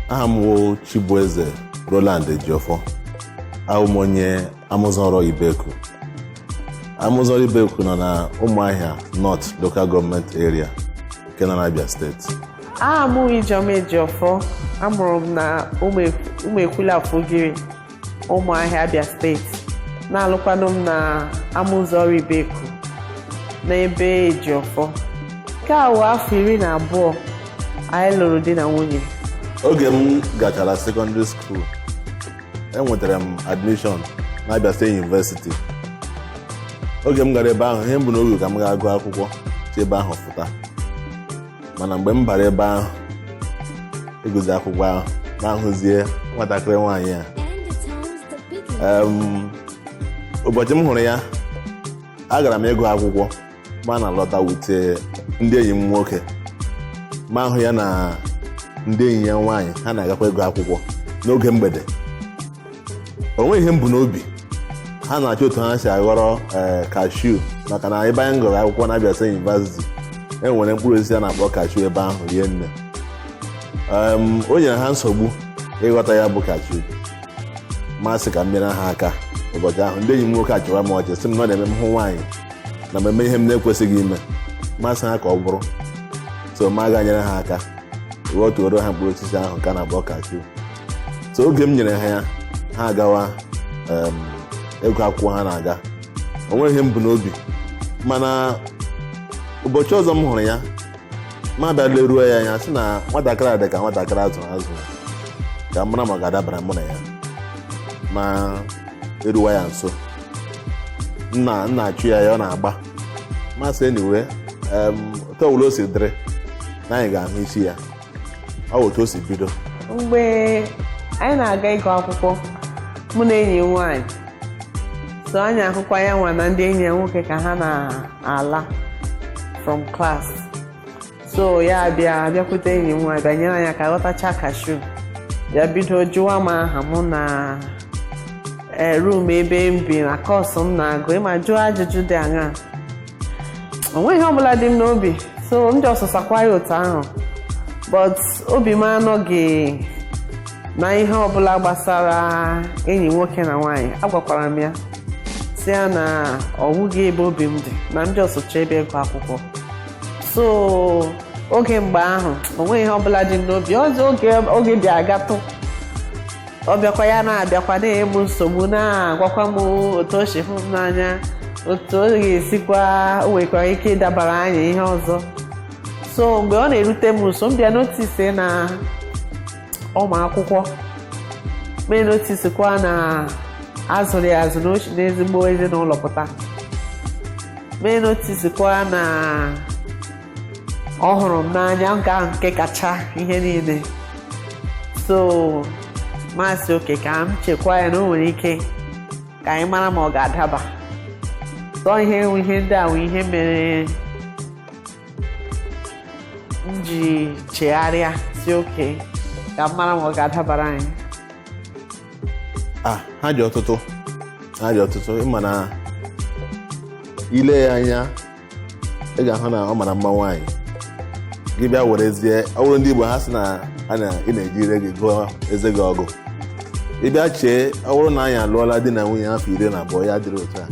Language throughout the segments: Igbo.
aha m wụ Chibueze Roland Ejiofor awụ m onye Amụzọrọ Ibeku Amụzọrọ Ibeku nọ na Ụmụahịa North Local Government Area nke nọ n'Abia steeti aha m wụ Ijeọma Ejiofor a mụrụ m na Ụmụekwule Afugiri Ụmụahịa Abia steeti na-alụkwanụ m na Amụzọrọ Ibeku n'ebe Ejiofor nke a wụ afọ iri na abụọ anyị lụrụ di na nwunye oge m gachara sekọndịrị skuul enwetara m admishọn na Abia State University oge m gara ebe ahụ ihe m bu n'obi ka m gaa gụọ akwụkwọ si ebe ahụ fụta mana mgbe m bara ebe ahụ ịgụzi akwụkwọ ahụ m ahụzie nwatakịrị nwaanyị a Em, ụbọchị m hụrụ ya agara m ịgụ akwụkwọ m ana-alọta with ndị enyi m nwoke m ahụ ya na ndị enyi ya nwaanyị ha na-agakwa ịgụ akwụkwọ n'oge mgbede o nweghị ihe m bu n'obi ha na-achọ otu ha si aghọrọ ee kashu maka na ebe anyị gụrụ akwụkwọ na Abia State University e nwere mkpụrụ osisi a na-akpọ kashu ebe ahụ rie nne Em, o nyere ha nsogbu ịghọta ya bụ kashu m asị ka m nyere ha aka ụbọchị ahụ ndị enyi m nwoke achịwa m ọchị sị m na ọ na-eme m hụ nwaanyị na m emee ihe m na-ekwesịghị ime m asị ha ka ọ bụrụ so m aga nyere ha aka ghọtuoro ha mkpụrụ osisi ahụ ka a na-akpọ kashu so oge m nyere ha ya ha agawa em, ịgụ akwụkwọ ha na-aga o nweghị ihe m bu n'obi mana ụbọchị ọzọ m hụrụ ya m abịa leruo ya anya sị na nwatakịrị a dị ka nwatakịrị a zụrụ azụ ka m mara ma ọ ga-adabara mụ na ya m eruwa ya nso nna m na-achụ ya ya ọ na-agba m asị anyway otu ọbụla o si dịrị na anyị ga-ahụ isi ya ọ otu o si bido mgbe anyị na-aga ịgụ akwụkwọ mụ na enyi m nwaanyị so anyị ahụkwa ya nwa na ndị enyi ya nwoke ka ha na-ala from class so ya bịa bịakwute enyi m nwaanyị bịa nyere anyị aka ghọtacha kashu ya bido jụwa m aha mụ na eh, room ebe m bi na kọọsụ m na-agụ ị ma jụọ ajụjụ dị aṅaa o nweghị ihe ọbụla dị m n'obi so m just sakwa ya otu ahụ but obi m anọghị na ihe ọbụla gbasara enyi nwoke na nwaanyị agwakwara m ya sị ya na ọ wụghị ebe obi m dị na m just chọọ ebe ịgụ akwụkwọ so oge mgbe ahụ o nweghị ihe ọbụla dị m n'obi ọzọ oge oge bịa gatụ ọ bịakwa ya na-abịakwa na-enye m nsogbu na-agwakwa m otu o si hụ m n'anya otu ọ ga-esikwa o nwekwara ike ịdabara anyị ihe ọzọ so mgbe ọ na-erute m nso m bịa notisi na ọ ma akwụkwọ m enotisikwa na a zụrụ ya azụ n'ezi n'ezigbo ezinụlọ pụta m enotisikwa na ọ hụrụ m n'anya nke ahụ nke kacha ihe niile so m asị oke ka m chekwa ya na o nwere ike ka anyị mara ma ọ ga-adaba so ihe ihe ndị a wụ ihe mere m ji chegharịa sị oke ka m mara ma ọ ga-adabara anyị ah ha dị ọtụtụ ha dị ọtụtụ ị ma na ị lee ya anya ị ga-ahụ na ọ mara mma nwaanyị gị bịa werezie ọ wụrụ ndị Igbo ha sị na a na ị na-eji ire gị gụọ eze gị ọgụ ị bịa chee ọ wụrụ na anyị alụọla di na nwunye afọ iri na abụọ ya dịrị otu a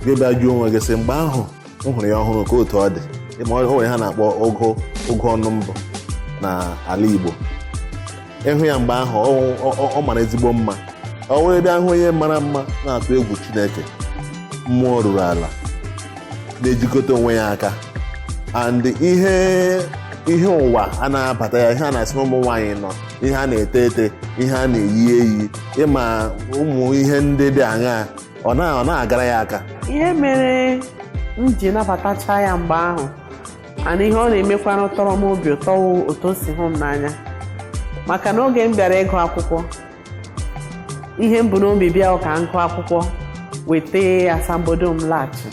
gị bịa jụọ onwe gị sị mgbe ahụ m hụrụ ya ọhụrụ ka otu ọ dị ma o nwere ihe a na-akpọ ogo ogo ọnụ mbụ na ala Igbo ị hụ ya mgbe ahụ ọ- ọ- ọ mara ezigbo mma o wee bịa wụ onye mara mma na-atụ egwu chineke mmụọ ruru ala na-ejikọta onwe ya aka and ihe ihe ụwa a na-abata ya ihe a na-asị na ụmụ nwaanyị nọ ihe a na-ete ete ihe a na-eyi eyi ị ma ụmụ ihe ndị dị aṅaa ọ na- ọ na-agara ya aka ihe mere m ji nabatacha ya mgbe ahụ and ihe ọ na-emekwanụ tọrọ m obi ụtọ wụ otu o si hụ m n'anya maka na oge m bịara ịgụ akwụkwọ ihe m bu n'obi bịa wụ ka m gụọ akwụkwọ weta asambodo m laghachi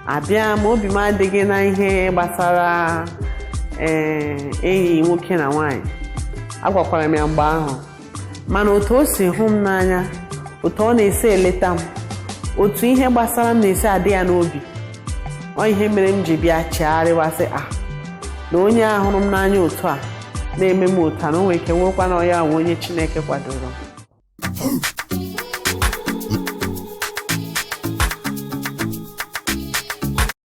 abịa m obi m adịghị na ihe gbasara ee enyi nwoke na nwaanyị agwakwara m ya mgbe ahụ mana otu o si hụ m n'anya otu ọ na-esi eleta m otu ihe gbasara m na-esi adị ya n'obi ọ ihe mere m ji bịa chegharịwa sị a na onye a hụrụ m n'anya otu a na-eme m otu a na o nwere ike wụkwa na ọ ya wụ onye chineke kwadoro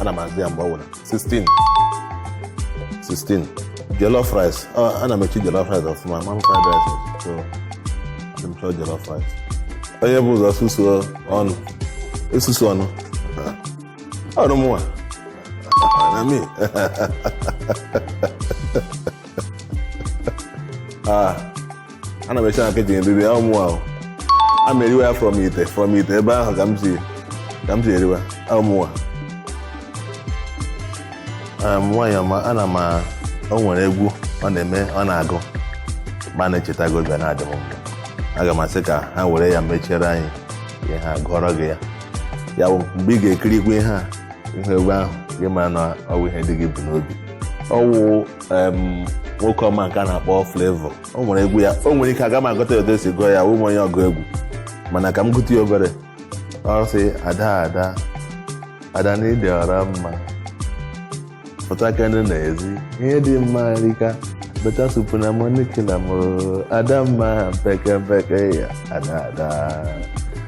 ana m azụ ya mgbe ọ bụla 16 16 jollof rice Ọ, ana m esi jollof rice ọfụma ma m fried rice so adị m chọọ jollof rice onye bụ ụzọ susuo ọnụ esusu ọnụ ọ wụ mụnwa na mi ah ana m esi na kichin eri ọ mụwa a m eriwe ya from ite from ite ebe ahụ ka m si ka m si eriwe ọ mụwa nwaanyị ọma ana m o nwere egwu ọ na-eme ọ na-agụ ma m na-echeta gị obi na-adị m mma aga m asị ka ha were ya mechiere anyị ihe a gụọrọ gị ya ya bụ mgbe ị ga-ekirikwu ihe a ihe egwu ahụ gị mara na ọ wụ ihe dị gị bụ n'obi ọ wụ em, nwoke ọma nke a na-akpọ Flavour o nwere egwu ya o nwere ike aga m agụta ya otu e si gụọ ya awụghị m onye ọgụ egwu mana ka m gụta ya obere ọ sị ada ada ada na ị dị ọra mma pụtakene n'ezi ihe dị mma rika better soup na money kill am o ada mma mpeke mpeke ya ada ada